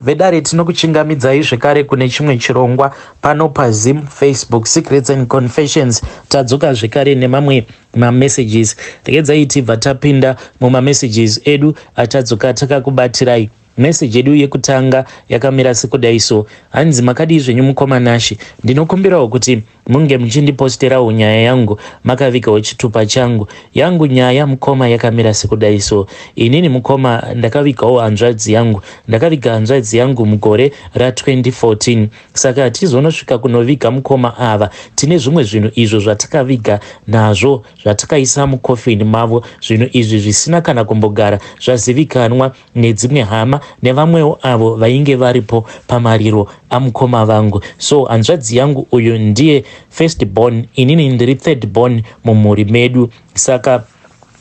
Vedare tinokuchingamidzai zvekare kune chimwe chirongwa pano paZim Facebook Secrets and Confessions. Tadzoka zvekare nemamwe mamessages. Regedzai tibva tapinda mumamessages edu atadzoka takakubatirayii meseji yedu yekutanga yakamira sekudaiso hanzi makadii zvenyu mukoma nashe ndinokumbirawo kuti Munge muchindiposterawo nyaya yangu makavikawo chitupa changu. Yangu nyaya mukoma yakamira sekudai so. Inini mukoma ndakavikawo hanzvadzi yangu. Ndakaviga hanzvadzi yangu mugore ra 2014. Saka hatizonosvika kunoviga mukoma ava. Tine zvimwe zvinhu izvo zvatakaviga nazvo zvatakaisa mucoffin mavo. Zvinhu izvi zvisina kana kumbogara zvazivikanwa. nedzimwe hama nevamwewo avo vainge varipo pamariro amukoma vangu so hanzvadzi yangu uyu ndiye first born inini ndiri third born mumhuri medu saka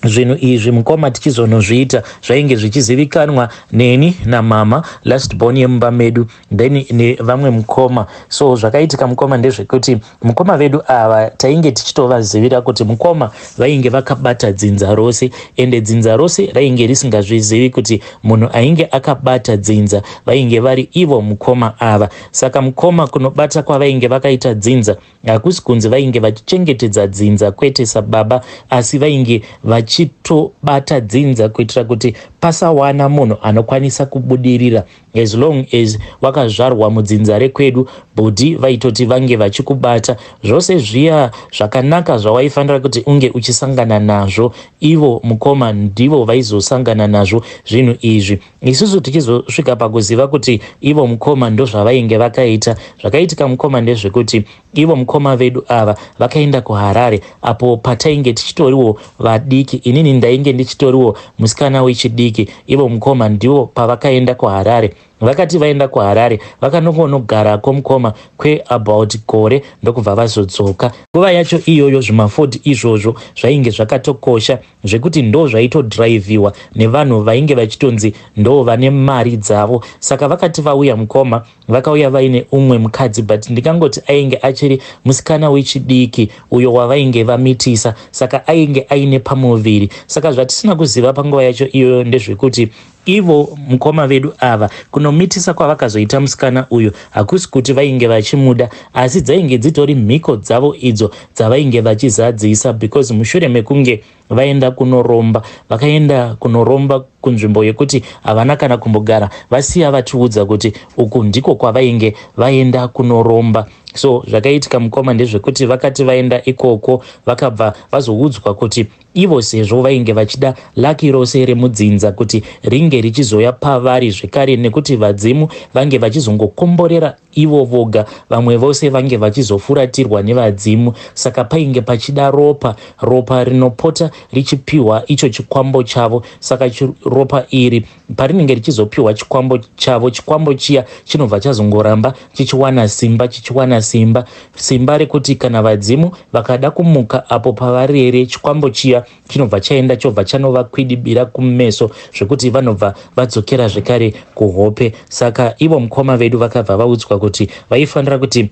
zvinhu izvi mukoma tichizonozviita zvainge zvichizivikanwa neni namama last born yemumba medu then nevamwe mukoma so zvakaitika mukoma ndezvekuti mukoma vedu ava tainge tichitovazivira kuti mukoma vainge vakabata dzinza rose ende dzinza rose rainge risingazvizivi kuti munhu ainge akabata dzinza vainge vari ivo mukoma ava saka mukoma kunobata kwavainge vakaita dzinza hakusi kunzi vainge vachichengetedza dzinza kwete sababa asi vainge vachitobata dzinza kuitira kuti pasawana munhu anokwanisa kubudirira As long as wakazvarwa mudzinza rekwedu bhudhi vaitoti vange vachikubata zvose zviya zvakanaka zvawaifanira kuti unge uchisangana nazvo ivo mukoma ndivo vaizosangana nazvo zvinhu izvi isusu tichizosvika pakuziva kuti ivo mukoma ndozvavainge vakaita zvakaitika mukoma ndezvekuti Ivo mukoma vedu ava vakaenda kuHarare apo patainge tichitoriwo vadiki. Inini ndainge ndichitoriwo musikana wechidiki. Ivo mukoma ndivo pavakaenda kuHarare. Vakati vaenda kuHarare vakanongonogarako mukoma kweabout gore ndokubva vazodzoka. Nguva yacho iyoyo zvimaford izvozvo zvainge zvakatokosha zvekuti ndoo zvaitodhiraivhiwa nevanhu vainge vachitonzi ndoo vane mari dzavo. Saka vakati vauya mukoma vakauya vaine umwe mukadzi but ndingangoti ainge achiri musikana wechidiki uyo wavainge vamitisa saka ainge aine pamuviri saka zvatisina kuziva panguva yacho iyoyo ndezvekuti ivo mukoma vedu ava kunomitisa kwavakazoita musikana uyu hakusi kuti vainge vachimuda asi dzainge dzitori mhiko dzavo idzo dzavainge vachizadzisa because mushure mekunge vaenda kunoromba vakaenda kunoromba kunzvimbo yekuti havana kana kumbogara vasiya vatiudza kuti uku ndiko kwavainge vaenda kunoromba so zvakaitika mukoma ndezvekuti vakati vaenda ikoko vakabva vazoudzwa kuti ivo sezvo vainge vachida laki rose remudzinza kuti ringe richizoya pavari zvekare nekuti vadzimu vange vachizongokomborera ivo voga, vamwe vose vange vachizofuratirwa nevadzimu. Saka painge pachida ropa, ropa rinopota richipiwa icho chikwambo chavo. Saka ropa iri parinenge richizopiwa chikwambo chavo, chikwambo chiya chinobva chazongoramba chichiwana simba, chichiwana simba, simba rekuti kana vadzimu vakada kumuka apo pavarere chikwambo chiya chinobva chaenda chobva chanovakwidibira kumeso zvekuti vanobva vadzokera zvekare kuhope saka ivo mukoma vedu vakabva vaudzwa kuti vaifanira kuti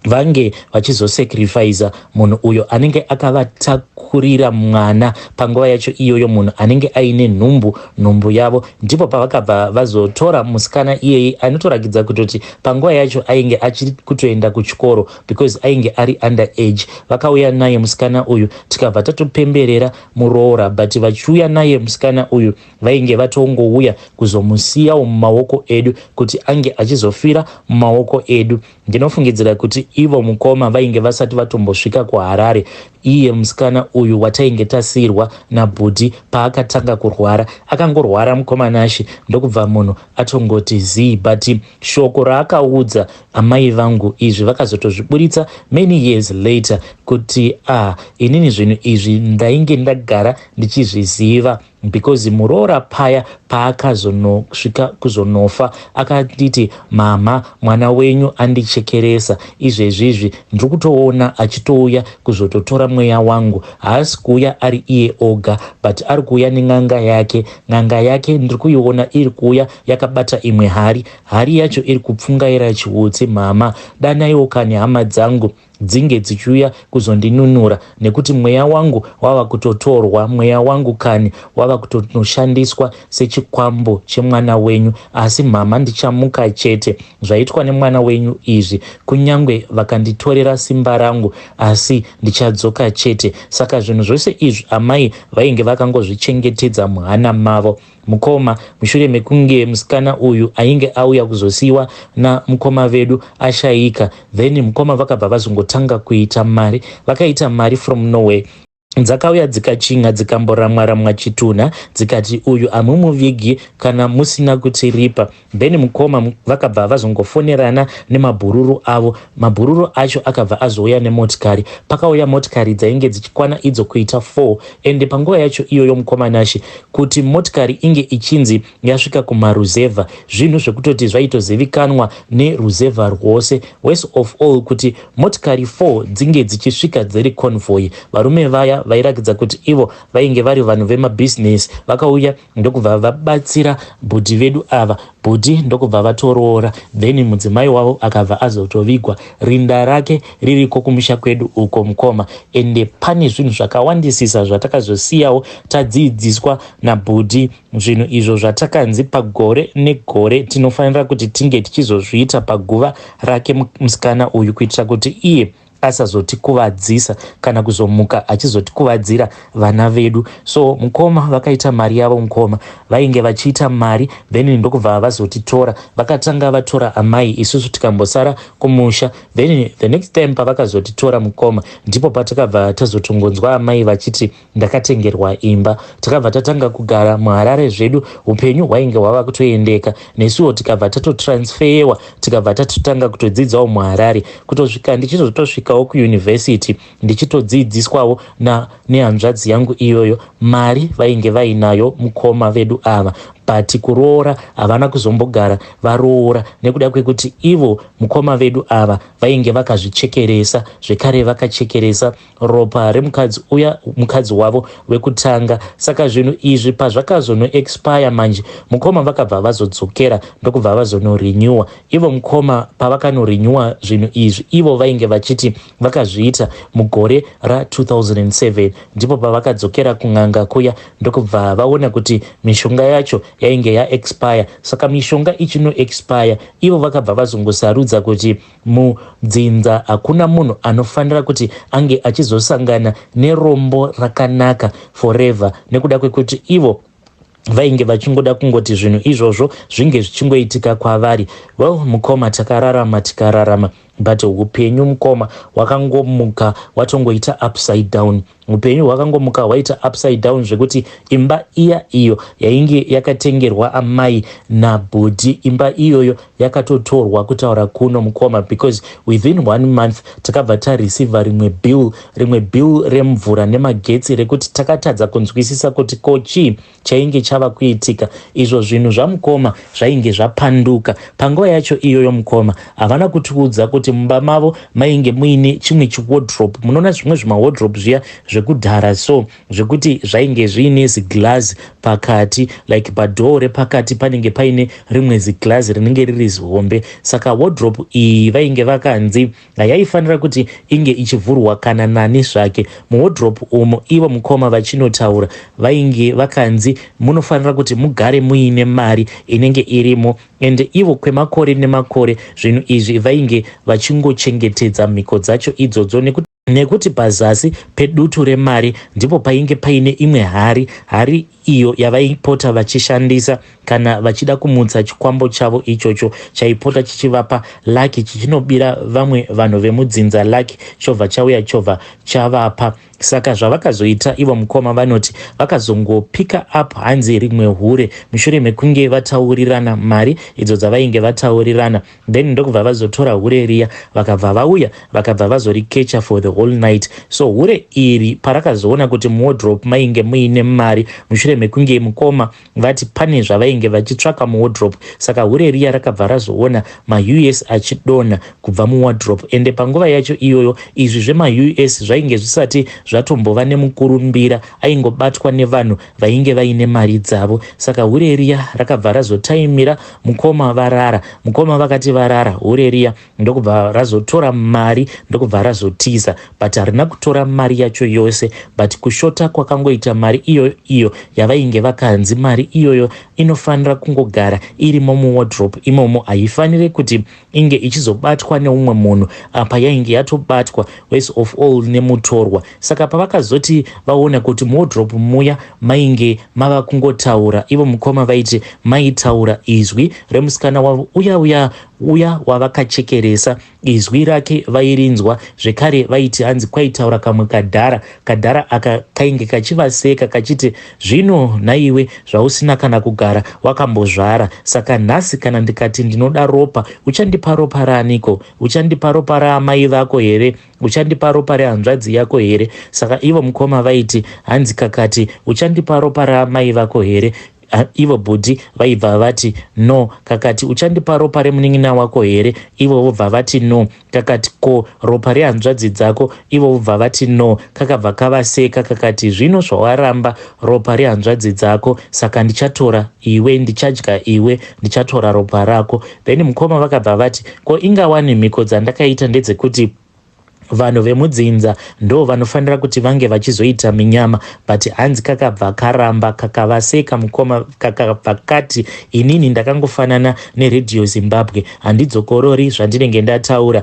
vange vachizosacrifiza munhu uyo anenge akavatakurira mwana panguva yacho iyoyo munhu anenge aine nhumbu nhumbu yavo ndipo pavakabva vazotora musikana iyeye anotorakidza kutoti panguva yacho ainge achiri kutoenda kuchikoro because ainge ari under age vakauya naye musikana uyu tikabva tatopemberera muroora but vachiuya naye musikana uyu vainge vatongouya kuzomusiyawo mumaoko edu kuti ange achizofira mumaoko edu ndinofungidzira kuti ivo mukoma vainge vasati vatombosvika kuharare iye musikana uyu watainge tasiyirwa nabhudhi paakatanga kurwara akangorwara mukoma nashe ndokubva munhu atongoti zii but shoko raakaudza Amai vangu izvi vakazotozviburitsa many years later kuti ah inini zvinhu izvi ndainge ndagara ndichizviziva because muroora paya paakazonosvika kuzonofa akanditi mama mwana wenyu andichekeresa izvezvizvi ndiri kutoona achitouya kuzototora mweya wangu haasi kuuya ari iye oga but ari kuuya nen'anga yake n'anga yake ndiri kuiona iri kuuya yakabata imwe hari Hari yacho iri kupfungaira chiutsi mhama, danaiwo kani hama dzangu dzinge dzichiuya kuzondinunura nekuti mweya wangu wava kutotorwa, mweya wangu kani wava kutonoshandiswa sechikwambo chemwana wenyu. Asi mhama ndichamuka chete, zvaitwa nemwana wenyu izvi, kunyangwe vakanditorera simba rangu asi ndichadzoka chete. Saka zvinhu zvose izvi amai vainge vakangozvichengetedza muhana mavo. Mukoma, mushure mekunge musikana uyu ainge auya kuzosiiwa na mukoma vedu ashaika then mukoma vakabva vazongotanga kuita mari vakaita mari from nowhere dzakauya dzikachinha dzikamboramwa ramwa chitunha dzikati uyu hamumuvigi kana musina kutiripa Bennie mukoma vakabva vazongofonerana nemabhururu avo. Mabhururu acho akabva azouya nemotikari. Pakauya motikari dzainge dzichikwana idzo kuita four ende panguva yacho iyoyo mukoma Nashe kuti motikari inge ichinzi yasvika kumaruzevha zvinhu zvekutoti zvaitozivikanwa neruzevha rwose. Worse of all kuti motikari four dzinge dzichisvika dziri convoy. Varume vaya vairakidza kuti ivo vainge vari vanhu vemabhizinesi vakauya ndokubva vabatsira bhudhi vedu ava bhudhi ndokubva vatoroora then mudzimai wavo akabva azotovigwa rinda rake ririko kumusha kwedu uko mukoma ende pane zvinhu zvakawandisisa zvatakazosiyawo tadziidziswa nabhudhi zvinhu izvo zvatakanzi pagore negore tinofanira kuti tinge tichizozviita paguva rake musikana uyu kuitira kuti iye asazotikuvadzisa kana kuzomuka achizotikuvadzira vana vedu so mukoma vakaita mari yavo mukoma vainge vachiita mari then ndokubva vazotitora vakatanga vatora amai isusu tikambosara kumusha then the next time pavakazotitora mukoma ndipo patakabva tazotongonzwa amai vachiti ndakatengerwa imba tikabva tatanga kugara muharare zvedu upenyu hwainge hwava kutoendeka nesuwo tikabva tatotransferewa tikabva tatotanga kutodzidzawo muharare kutosvika ndichizotosvikawo kuyunivhesiti ndichitodzidziswawo nehanzvadzi yangu iyoyo mari vainge vainayo mukoma vedu ava but kuroora havana kuzombogara varoora nekuda kwekuti ivo mukoma vedu ava vainge vakazvichekeresa zvekare vakachekeresa ropa remukadzi uya mukadzi wavo wekutanga saka zvinhu izvi pazvakazonoexpire manje mukoma vakabva vazodzokera ndokubva vazonorenewa ivo mukoma pavakanorenewa zvinhu izvi ivo vainge vachiti vakazviita mugore ra2007 ndipo pavakadzokera kun'anga kuya ndokubva vaona kuti mishonga yacho yainge yaexpire saka mishonga ichinoexpire ivo vakabva vazongosarudza kuti Mudzinza hakuna munhu anofanira kuti ange achizosangana nerombo rakanaka forever nekuda kwekuti ivo vainge vachingoda kungoti zvinhu izvozvo zvinge zvichingoitika kwavari well mukoma takararama tikararama but upenyu mukoma wakangomuka watongoita upside down Hupenyu hwakangomuka hwaita upside down zvekuti imba iya iyo yainge yakatengerwa amai nabhudhi imba iyoyo yakatotorwa kutaura kuno mukoma because within one month takabva tareceiva rimwe bill rimwe bill remvura nemagetsi rekuti takatadza kunzwisisa kuti ko chii chainge chava kuitika izvo zvinhu zvamukoma zvainge zvapanduka panguva yacho iyoyo mukoma havana kutiudza kuti mumba mavo mainge muine chimwe chiwodrop munoona zvimwe zvimawodrop zviya zvekudhara so zvekuti zvainge zviine ziglazi pakati like padhoo repakati panenge paine rimwe ziglazi rinenge riri zihombe saka wodrop iyi vainge vakanzi Yaifanira kuti inge ichivhurwa kana nani zvake. Muwodhuropu umu ivo mukoma vachinotaura vainge vakanzi munofanira kuti mugare muine mari inenge irimo ende ivo kwemakore nemakore zvinhu izvi vainge vachingochengetedza mhiko dzacho idzodzo nekuti nekuti pazasi pedutu remari ndipo painge paine imwe hari hari iyo yavaipota vachishandisa kana vachida kumutsa chikwambo chavo ichocho chaipota chichivapa laki chichinobira vamwe vanhu vemudzinza laki chobva chauya chobva chavapa saka zvavakazoita ivo mukoma vanoti vakazongopika up hanzi rimwe hure mushure mekunge vataurirana mari idzo dzavainge vataurirana then ndokubva vazotora hure riya vakabva vauya vakabva vazorikecha for the whole night so hure iri parakazoona kuti muwodrop mainge muine mari mushure mekunge mukoma vati pane zvavainge vachitsvaka muwodrop saka hure riya rakabva razoona maus achidonha kubva muwodrop ende panguva yacho iyoyo izvi zvemaus zvainge zvisati zvatombova nemukurumbira aingobatwa nevanhu vainge vaine mari dzavo saka hure riya rakabva razotaimira mukoma varara mukoma vakati varara hure riya ndokubva razotora mari ndokubva razotiza but harina kutora mari yacho yose but kushota kwakangoita mari iyoyo iyo yavainge vakanzi mari iyoyo inofanira kungogara irimo muwardrop imomo haifanire kuti inge ichizobatwa neumwe munhu apa yainge yatobatwa worse of all nemutorwa saka pavakazoti vaona kuti muwodrop muya mainge mava kungotaura ivo mukoma vaiti maitaura izwi remusikana wavo uya uya uya wavakachekeresa izwi rake vairinzwa zvekare vaiti hanzi kwaitaura kamwe kadhara Kadhara aka kainge kachivaseka kachiti, Zvino nhaiwe zvausina kana kugara wakambozvara, saka nhasi kana ndikati ndinoda ropa, uchandipa ropa raaniko? Uchandipa ropa raamai vako here? Uchandipa ropa rehanzvadzi yako here? Saka ivo mukoma vaiti, Hanzi kakati, Uchandipa ropa raamai vako here? Ah, ivo bhudhi vaibva vati no kakati uchandipa ropa remunin'ina wako here ivo vobva vati no kakati ko ropa rehanzvadzi dzako ivo vobva vati no kakabva kavaseka kakati zvino zvawaramba ropa rehanzvadzi dzako saka ndichatora iwe ndichadya iwe ndichatora ropa rako then mukoma vakabva vati ko ingawani mhiko dzandakaita ndedzekuti vanhu vemudzinza ndo vanofanira kuti vange vachizoita minyama but hanzi kakabva karamba kakavaseka mukoma kakabva kati inini ndakangofanana neredio zimbabwe handidzokorori zvandinenge ndataura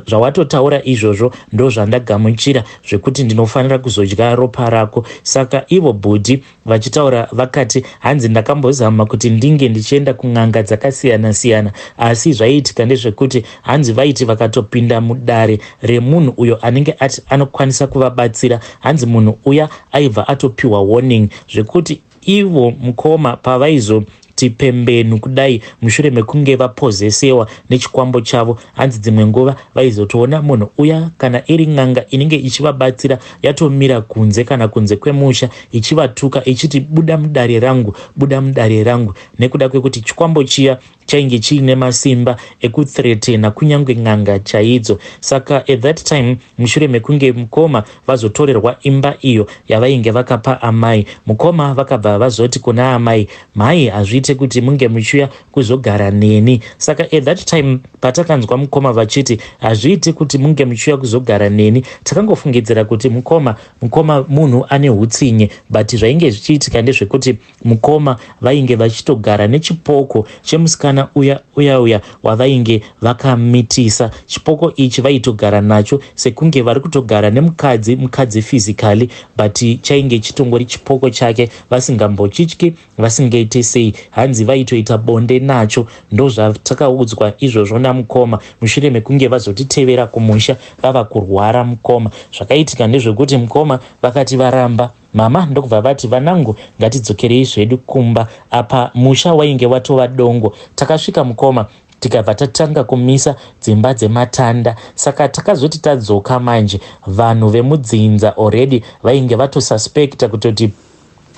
zvawatotaura zva izvozvo ndo zvandagamuchira zvekuti ndinofanira kuzodya ropa rako saka ivo bhudhi Vachitaura vakati, Hanzi ndakambozama kuti ndinge ndichienda kun'anga dzakasiyana-siyana, asi zvaiitika ndezvekuti hanzi vaiti vakatopinda mudare remunhu uyo anenge ati anokwanisa kuvabatsira, hanzi munhu uya aibva atopiwa warning zvekuti ivo mukoma pavaizo tipembenu kudai mushure mekunge vapozesewa nechikwambo chavo hanzi dzimwe nguva vaizotoona munhu uya kana iri n'anga inenge ichivabatsira yatomira kunze kana kunze kwemusha ichivatuka ichiti buda mudare rangu buda mudare rangu nekuda kwekuti chikwambo chiya chainge chiine masimba ekuthretena kunyange n'anga chaidzo saka at that time mushure mekunge mukoma vazotorerwa imba iyo yavainge vakapa amai. Mukoma vakabva vazoti kuna amai, mhai hazviite kuti munge muchiuya kuzogara neni. Saka at that time patakanzwa mukoma vachiti hazviite kuti munge muchiuya kuzogara neni takangofungidzira kuti mukoma mukoma munhu ane hutsinye but zvainge zvichiitika ndezvekuti Mukoma vainge vachitogara nechipoko chemusikana uya uya uya wavainge vakamitisa. Chipoko ichi vaitogara nacho sekunge vari kutogara nemukadzi mukadzi physically but chainge chitongori chipoko chake vasingambochityi vasingaite sei. Hanzi vaitoita bonde nacho. Ndozvatakaudzwa izvozvo namukoma mushure mekunge vazotitevera kumusha vava kurwara mukoma. Zvakaitika ndezvekuti mukoma vakati varamba. Mama ndokubva vati, Vanangu ngatidzokerei zvedu kumba. Apa musha wainge watova dongo. Takasvika mukoma tikabva tatanga kumisa dzimba dzematanda saka takazoti tadzoka manje vanhu vemudzinza already vainge vatosuspecta kutoti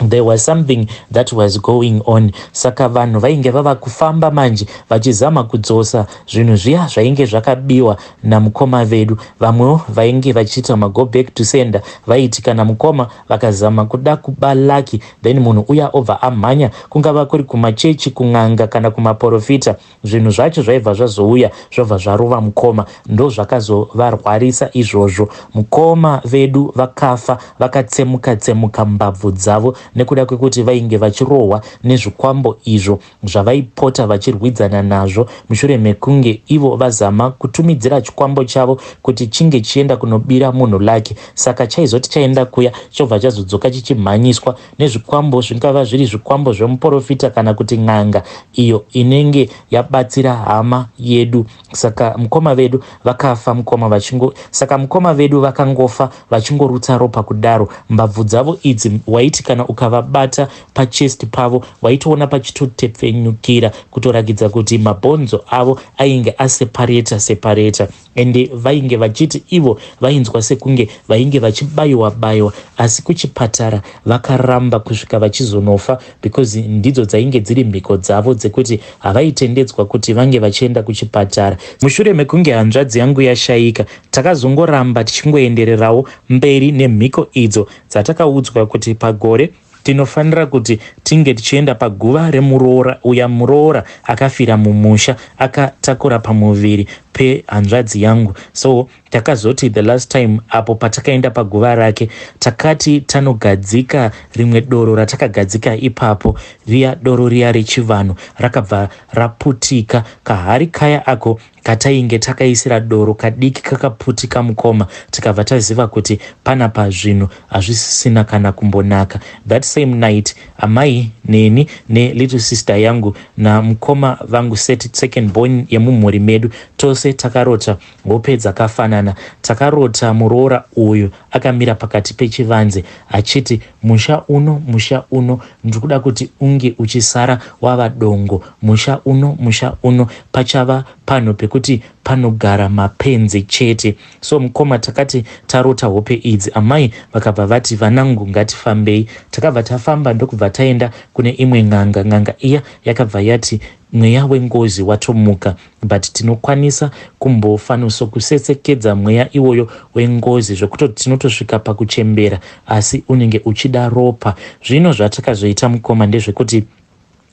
there was something that was going on saka vanhu vainge vava kufamba manje vachizama kudzosa zvinhu zviya zvainge zvakabiwa namukoma vedu vamwewo vainge vachiita mago back to sender vaiti kana mukoma vakazama kuda kuba lucky then munhu uya obva amhanya kungava kuri kumachechi kun'anga kana kumaporofita zvinhu zvacho zvaibva zvazouya zvobva zvarova mukoma ndozvakazovarwarisa izvozvo mukoma vedu vakafa vakatsemuka tsemuka mbabvu dzavo nekuda kwekuti vainge vachirohwa nezvikwambo izvo zvavaipota vachirwidzana nazvo mushure mekunge ivo vazama kutumidzira chikwambo chavo kuti chinge chienda kunobira munhu lake saka chaizoti chaenda kuya chobva chazodzoka chichimhanyiswa nezvikwambo zvingava zviri zvikwambo zvemuporofita kana kuti n'anga iyo inenge yabatsira hama yedu saka mukoma vedu vakafa mukoma vachingo saka mukoma vedu vakangofa vachingorutsa ropa kudaro mbabvu dzavo idzi waiti kana ukavabata pachest pavo waitoona pachitotepfenyukira kutorakidza kuti mabhonzo avo ainge asepareta separeta ende vainge vachiti ivo vainzwa sekunge vainge vachibayiwa bayiwa asi kuchipatara vakaramba kusvika vachizonofa because ndidzo dzainge dziri mhiko dzavo dzekuti havaitendedzwa kuti vange vachienda kuchipatara. Mushure mekunge hanzvadzi yangu yashaika, takazongoramba tichingoendererawo mberi nemhiko idzo dzatakaudzwa kuti pagore tinofanira kuti tinge tichienda paguva remuroora uya muroora akafira mumusha akatakura pamuviri pehanzvadzi yangu so Takazoti the last time apo patakaenda paguva rake takati tanogadzika rimwe doro ratakagadzika ipapo riya doro riya rechivanhu rakabva raputika kahari kaya ako katainge takaisira doro kadiki kakaputika mukoma tikabva taziva kuti pana pazvinhu hazvisisina kana kumbonaka that same night amai neni nelittle sister yangu namukoma vangu seti second born yemumhuri medu tose takarota Hope dzakafanana. Takarota muroora uyu akamira pakati pechivanze achiti musha uno musha uno ndiri kuda kuti unge uchisara wava dongo musha uno musha uno pachava panhu pekuti panogara mapenzi chete. So mukoma takati tarota hope idzi amai vakabva vati vanangu ngatifambei. Takabva tafamba ndokubva taenda kune imwe n'anga. N'anga iya yakabva yati mweya wengozi watomuka. But tinokwanisa kumbofanoso kusetsekedza mweya iwoyo wengozi zvekutoti tinotosvika pakuchembera asi unenge uchida ropa. Zvino zvatakazoita mukoma ndezvekuti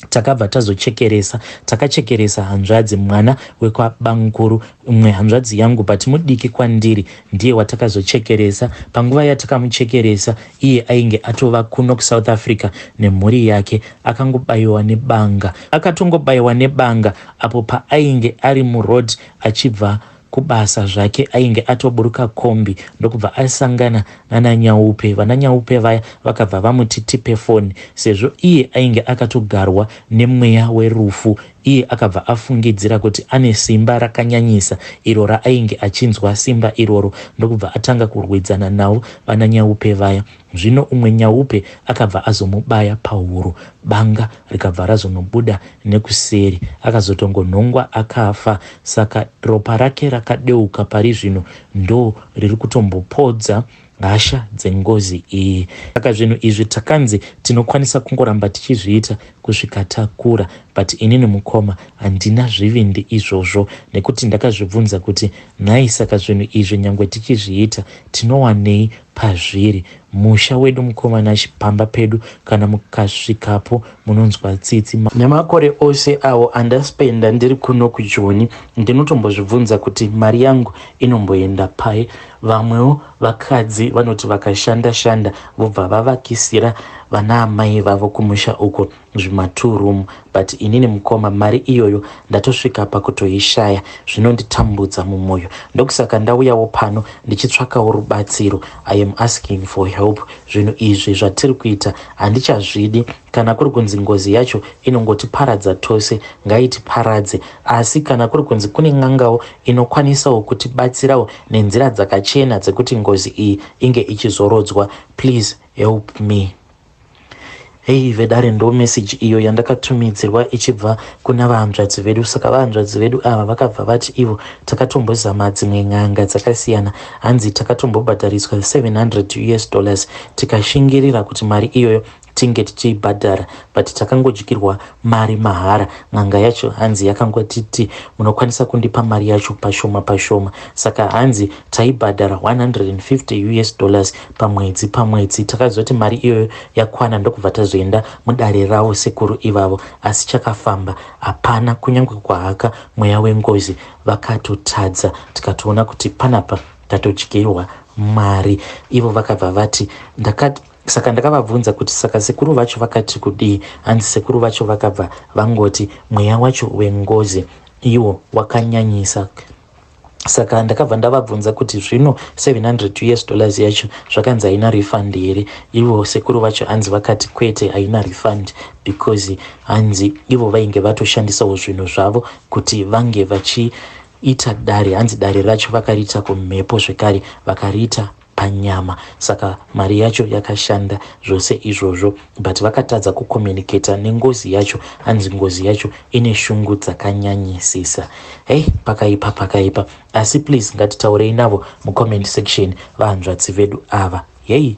takabva tazochekeresa takachekeresa hanzvadzi mwana wekwabamkuru mwe hanzvadzi yangu but mudiki kwandiri ndiye watakazochekeresa panguva yatakamuchekeresa iye ainge atova kuno kusouth africa nemhuri yake akangobayiwa nebanga akatongobayiwa nebanga apo paainge ari muroad achibva kubasa zvake ainge atoburuka kombi ndokubva asangana nana nyaupe vana nyaupe vaya vakabva vamuti tipe foni sezvo iye ainge akatogarwa nemweya werufu iye akabva afungidzira kuti ane simba rakanyanyisa iro raainge achinzwa simba iroro ndokubva atanga kurwidzana navo vana nyaupe vaya Zvino umwe nyaupe akabva azomubaya pahuro, banga rikabva razonobuda nekuseri. Akazotongonhongwa akafa. Saka ropa rake rakadeuka pari zvino ndo riri kutombopodza hasha dzengozi iyi. Saka zvinhu izvi takanzi tinokwanisa kungoramba tichizviita kusvika takura but inini mukoma handina zvivindi izvozvo nekuti ndakazvibvunza kuti nhai saka zvinhu izvi nyangwe tichizviita tinowanei pazviri musha wedu mukoma Nashy pamba pedu kana mukasvikapo munonzwa tsitsi ma nemakore ose awo andaspenda ndiri kuno kujoni ndinotombozvibvunza kuti mari yangu inomboenda pai vamwewo vakadzi vanoti vakashanda shanda vobva vavakisira vanaamai vavo kumusha uko zvima two room but inini mukoma mari iyoyo ndatosvika pakutoishaya zvinonditambudza mumoyo ndokusaka ndauyawo pano ndichitsvakawo rubatsiro i am asking for help zvinhu izvi zvatiri kuita handichazvidi kana kuri kunzi ngozi yacho inongotiparadza tose ngaitiparadze asi kana kuri kunzi kune n'angawo inokwanisawo kutibatsirawo nenzira dzakachena dzekuti ngozi iyi inge ichizorodzwa please help me Hei vedare ndo message iyo yandakatumidzirwa ichibva kuna vahanzvadzi vedu saka vahanzvadzi vedu ava vakabva vati ivo takatombozama dzimwe n'anga dzakasiyana hanzi takatombobhadhariswa 700 us dollars tikashingirira kuti mari iyoyo tinge tichiibhadhara but takangodyirwa mari mahara n'anga yacho hanzi yakangotiti munokwanisa kundipa mari yacho pashoma pashoma saka hanzi taibhadhara 150 us dollars pamwedzi pamwedzi takazoti mari iyoyo yakwana ndokubva tazoenda mudare ravo sekuru ivavo asi chakafamba hapana kunyange kwahaka mweya wengozi vakatotadza tikatoona kuti panapa tatodyirwa mari ivo vakabva vati ndakati saka ndakavabvunza kuti saka sekuru vacho vakati kudii hanzi sekuru vacho vakabva vangoti mweya wacho wengozi iwo wakanyanyisa saka ndakabva ndavabvunza kuti zvino 700 us dollars yacho zvakanzi haina refund here ivo sekuru vacho hanzi vakati kwete haina refund because hanzi ivo vainge vatoshandisawo zvinhu zvavo kuti vange vachiita dare hanzi dare racho vakariita kumhepo zvekare vakariita panyama saka mari yacho yakashanda zvose izvozvo but vakatadza kucommunicator nengozi yacho hanzi ngozi yacho ine shungu dzakanyanyisisa hei pakaipa pakaipa asi please ngatitaurei navo mucomment section vahanzvatsi vedu ava yei